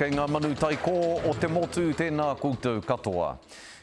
Kei ngā manu taikō o te motu tēnā koutou katoa.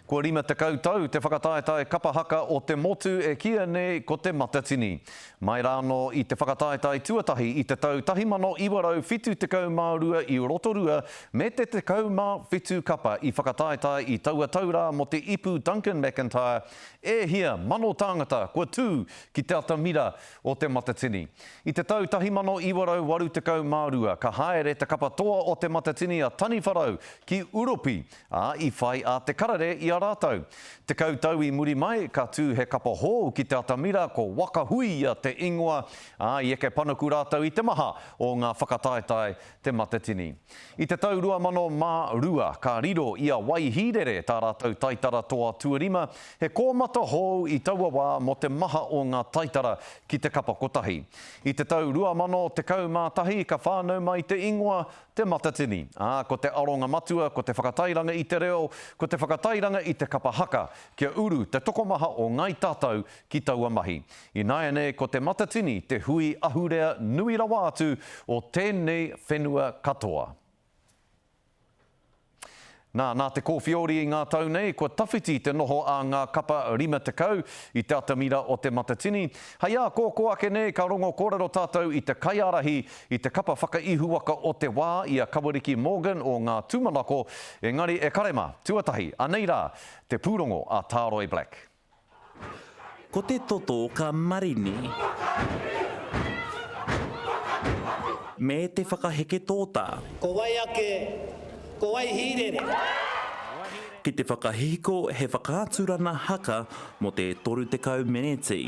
Kua 50 tau te whakataetae kapa haka o te motu e kīia nei ko Te Matatini. Mai rānō i te whakataetae tuatahi i te tau 1972 i Rotorua me te 17 kapa i whakataetae i taua tau rā mō te ipu Duncan McIntyre, e hia mano tāngata kua tū ki te atamira o Te Matatini. I te tau 1982 ka haere te kapa toa o Te Matatini a Taniwharau ki Uropi, ā, i whai a Te Karere i a rātou. Tekau tau i muri mai, ka tū he kapa hou ki te atamira ko Wakahuia te ingoa, ā, i eke panuku rātou i te maha o ngā whakataetae Te Matatini. I te tau 2002, ka riro i a Wai Hīrere tā rātou taitara toa tuarima, he kōmata hou i taua wā mō te maha o ngā taitara ki te kapa kotahi. I te tau 2011 ka whānau mai te ingoa Te Matatini, ā, ko te aronga matua ko te whakatairanga i te reo, ko te whakatairanga i te kapa haka, kia uru te tokomaha o Ngāi Tātou ki taua mahi. Ināianei ko Te Matatini te hui ahurea nui rawa atu o tēnei whenua katoa. Nā, nā te kōwhiori i ngā tau nei, kua tawhiti te noho a ngā kapa 50 i te atamira o Te Matatini. Hei ākōkō ake nei ka rongo kōrero tātou i te kaiārahi i te kapa whakaihuwaka o te wā i a Kawariki Morgan o Ngā Tūmanako, engari e kare mā, tuatahi, anei rā, te pūrongo a Tāroe Black. Ko te toto ka marini. Me te whakaheke tōtā. Ko wai ake, ko wai hīrere? Ki te whakahihiko he whakaaturana haka mō te 30 meneti.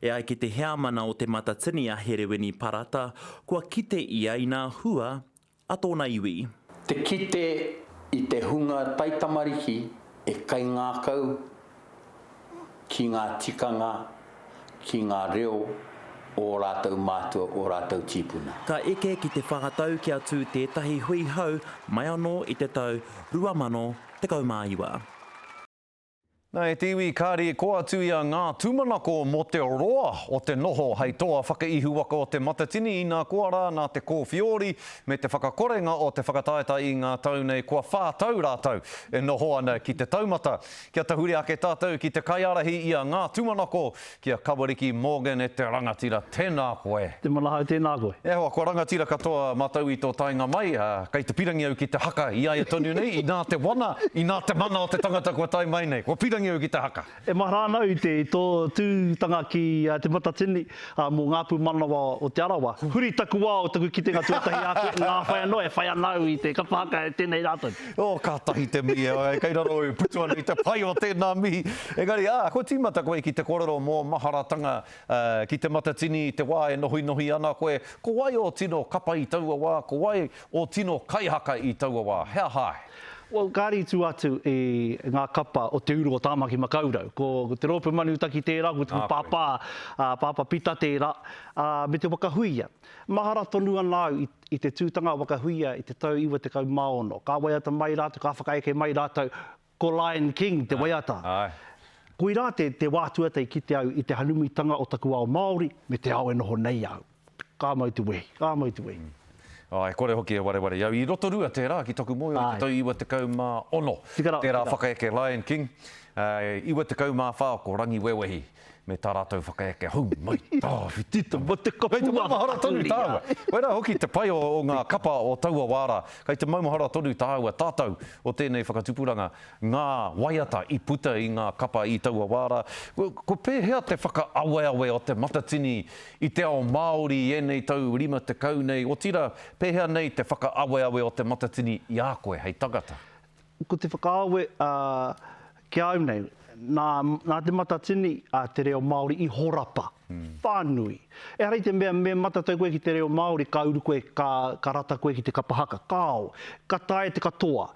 E ai ki te Heamana o Te Matatini a Hereweni Parata, kua kite ia inā hua a tōna iwi. Te kite i te hunga taitamariki e kaingākau ki ngā tikanga, ki ngā reo o ō rātou mātua, ō rātou tīpuna. Ka eke ki te whā tau kia tū tētahi hui hou mai anō i te tau 2019. Na e te iwi kari ko atu ia nga tumanako mo te roa o te noho hei toa whakaihuwaka o te matatini ina koa ra na te kowhiori me te whakakorenga o te whakataetae i nga tau nei kua wha tau ratou e noho ana ki te taumata kia tahuri ake tatou ki te kaiarahi ia nga tumanako Ki a Kawariki Morgan e te rangatira, tēnā koe. Te mana hau, tēnā koe. E hoa, kua rangatira katoa matou i to taenga mai, a, kei te pirangi au ki te haka i aia tonu nei, inā te wana, inā te mana o te tangata kua tae mai nei. Kua pirangi au ki te haka. E mahara ana au i te, i to tūtanga ki Te Matatini, a, mo ngā pūmanawa o Te Arawa. Huri taku wao, taku kitenga tuatahi a koe, ngā whai anō e whai ana au i te kapa haka e tenei rā tonu. Oh, kātahi te mihi, āe, kei raro au, putu ana i te pai o tēnā mihi. Engari, ā, kua tīmata koe ki te kōrero mō maharatanga ki Te Matatini i te wā e nohinohi ana koe, ko wai ō tino kapa i taua wā, ko wai ō tino kaihaka i taua wā, he aha ai? Well, kāre i tū atu i ngā kapa o Te Uru o Tāmaki Makaurau. Ko te rōpū Manutaki tērā, ko tū pāpā, Pāpā Pita tērā, me te whakahuia. Mahara tonu ana au i te tūtanga o Wakahuia i te tau 96. Ka waiata mai rātou, ka whakaeke mai rātou ko Lion King te waiata. Koirā te wā atu ata i kite au i te hanumitanga o taku ao Māori me te ao e noho nei au. Ka mau te wehi, ka mau te wehi. Āe, kore hoki e wareware i au. I Rotorua tērā ki taku moe o te tau 96. Tērā whakaeke Lion King. 94 ko Rangiwewehi. Me tā rātou whakaeke, hou mai tāwhiti te mate kapua. Kei te maumahara tonu tāua. Koirā hoki te pai o ngā kapa o taua wā rā. Kei te maumahara tonu tāua tatau o tēnei whakatupuranga, ngā waiata i puta i ngā kapa i taua wā rā. Ko pēhea te whakaaweawe o te matatini i te ao Māori i ēnei tau rima tekau nei, otirā, pēhea nei te whakaaweawe o te matatini i a koe hei tangata? Ko te whakaawe ki a au nei, nā Te Matatini te reo Māori i horapa whānui. Ehara i te mea me matatau koe ki te reo Māori ka uru koe, ka rata koe ki te kapa haka, kāo, ka taea te katoa.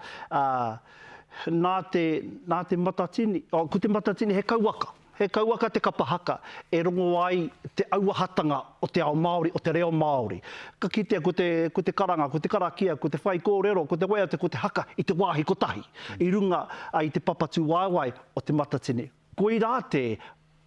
Nā Te Matatini, ko Te Matatini he kauwaka. He kauaka te kapa haka e rongo ai te auahatanga o te ao Māori, o te reo Māori. Ka kitea ko te, ko te karanga, ko te karakia, ko te whaikōrero, ko te waiata, ko te haka i te wāhi kotahi, i runga i te papatu waewae o te matatini. Koirā te,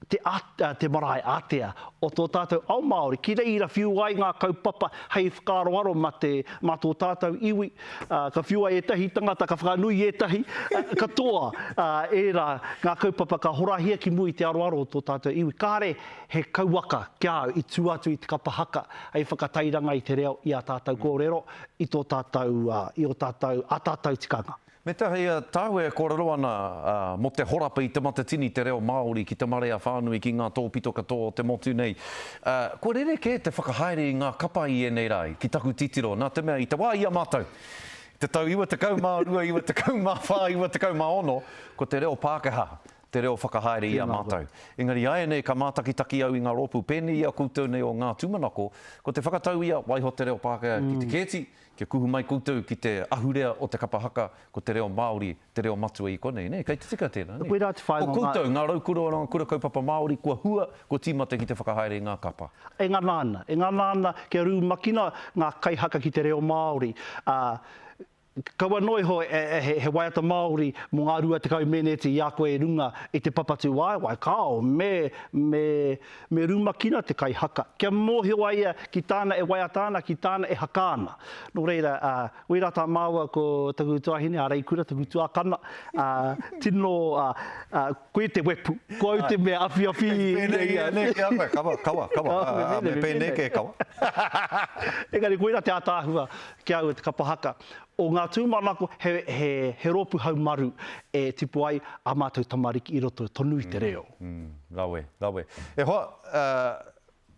te a, te marae ātea o tō tātou ao Māori ki reira whiu ai ngā kaupapa hei whakaaroaro mā te, mā tō tātou iwi, Ā, ka whiua ētahi tangata, ka whakanui ētahi, ā, katoa, ā, ērā ngā kaupapa ka horahia ki mua i te aroaro o tō tātou iwi. Kāre he kauaka ki a au i tū atu i te kapa haka hei whakatairanga i te reo, i ā tātou kōrero, i tō tātou, ā, i ō tātou, ā tātou tikanga. Me te hei, ā tāu e kōrero ana, ā, mō te horapa i Te Matatini te reo Māori ki te marea whānui, ki ngā tōpito katoa o te motu nei. Ā, kua rerekē te whakahaere i ngā kapa i ēnei rā ki taku titiro, nā te mea i te wā i a mātou, i te tau 92, 94, 96, ko te reo Pākehā te reo whakahaere i a mātou. Engari āianei ka mātakitaki au i ngā rōpū pēnei i a koutou nei o ngā tūmanako, ko te whakatau ia, waiho te reo Pākehā ki te kēti, kia kuhu mai koutou ki te ahurea o te kapa haka, ko te reo Māori te reo matua i konei, nē? Kei te tika tēnā, nē? Ko koutou, ngā raukura o ngā kura kaupapa Māori, kua hua, kua tīmata ki te whakahaere i ngā kapa. E ngana ana, e ngana ana kia rumakina ngā kaihaka ki te reo Māori. Ā, kaua noa iho he waiata Māori mō ngā rua tekau meneti i a koe i runga i te papatūwaewae, kāo, me, me, me rumakina te kaihaka, kia mōhio a ia ki tāna e waiata ana, ki tāna e haka ana. Nō reira, ā, Wera ta maua ko taku tuahine a Reikura taku tuakana a tino a koe te wepu ko au te mea awhiawhi nei ia nei kia koe kawa kawa kawa me penei ke kawa engari koira te ataahua ki au e te kapa haka o nga tumanako he he he ropu haumaru e tipu ai a matou tamariki i roto tonu i te reo. Rawe rawe e hoa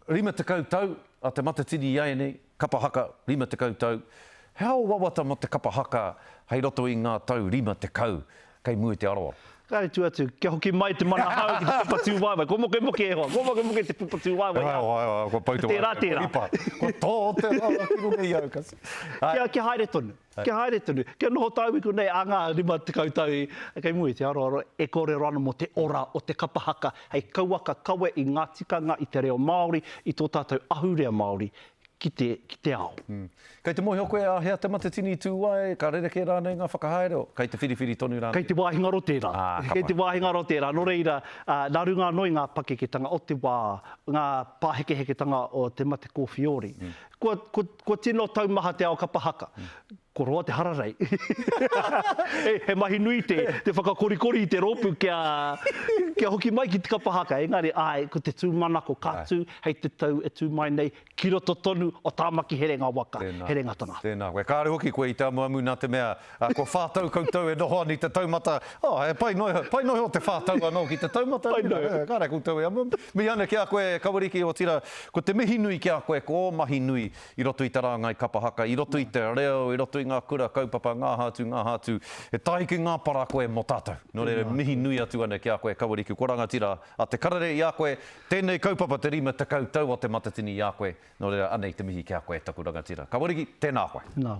Rima tekau tau a Te Matatini i ēnei, kapa haka, rima tekau tau. He ao wawata mō te kapa haka hei roto i ngā tau rima tekau kei mua i te aroaro. Kāre tū atu, kia hoki mai te mana hou ki te pupatūwaewae. Kua mokemoke e hoa, kua mokemoke te pupatūwaewae i a koe. He hoa, he hoa, kua pau te waewae, kua ripa. Kua tō te waewae ki runga i au kasi. Kia haere tonu. Kia haere tonu, kia noho tāuiku nei ā ngā 50 tau kei mua i te aroaro e kōrero ana mō te ora o te kapa haka hei kauaka kawe i ngā tikanga, i te reo Māori, i tō tātou ahurea Māori ki te, ki te ao. Kei te mōhio koe a hea te matatini i tū ai, ka rerekē rānei ngā whakahaere o, kei te whiriwhiri tonu rānei? Kei te wāhingaro tērā. Ā, ka pai. Kei te wāhingaro tērā. Nō reira, nā runga anō i ngā pakeketanga o te wā, ngā pāhekeheketanga o te mate kōwhiori, Kua, kua, kua tino taumaha te ao kapa haka. Kua roa te hararei. he, he mahi nui te, te whakakorikori i te rōpū kia, kia hoki mai ki te kapa haka. Engari, āe, ko te tūmanako ka tū hei te tau e tū mai nei, ki roto tonu o Tāmaki Herenga waka, Herenga tangata. Tēnā koe. Kāore hoki koe i te amuamu nā te mea, Kua whā tau koutou e noho ana i te taumata, oh, he pai noa iho, pai noa iho te whā tau anō ki te taumata, Pai noa iho. Kāre koutou e amuamu. Mihi ana ki a koe, Kawariki, otirā, ko te mihi nui ki a koe ko ō mahi nui i roto i te rāngai kapa haka, i roto i te reo, i roto i ngā kura kaupapa, ngā aha atu, ngā aha atu. He tāhi ki ngā para koe mō tātou. Nō reira, mihi nui atu ana ki a koe, Kawariki, kua rangatira a Te Karere i a koe, tēnei kaupapa te 50 tau o Te Matatini i a koe, nō reira, anei te mihi ki a koe, taku rangatira. Kawariki, tēnā koe. Nā.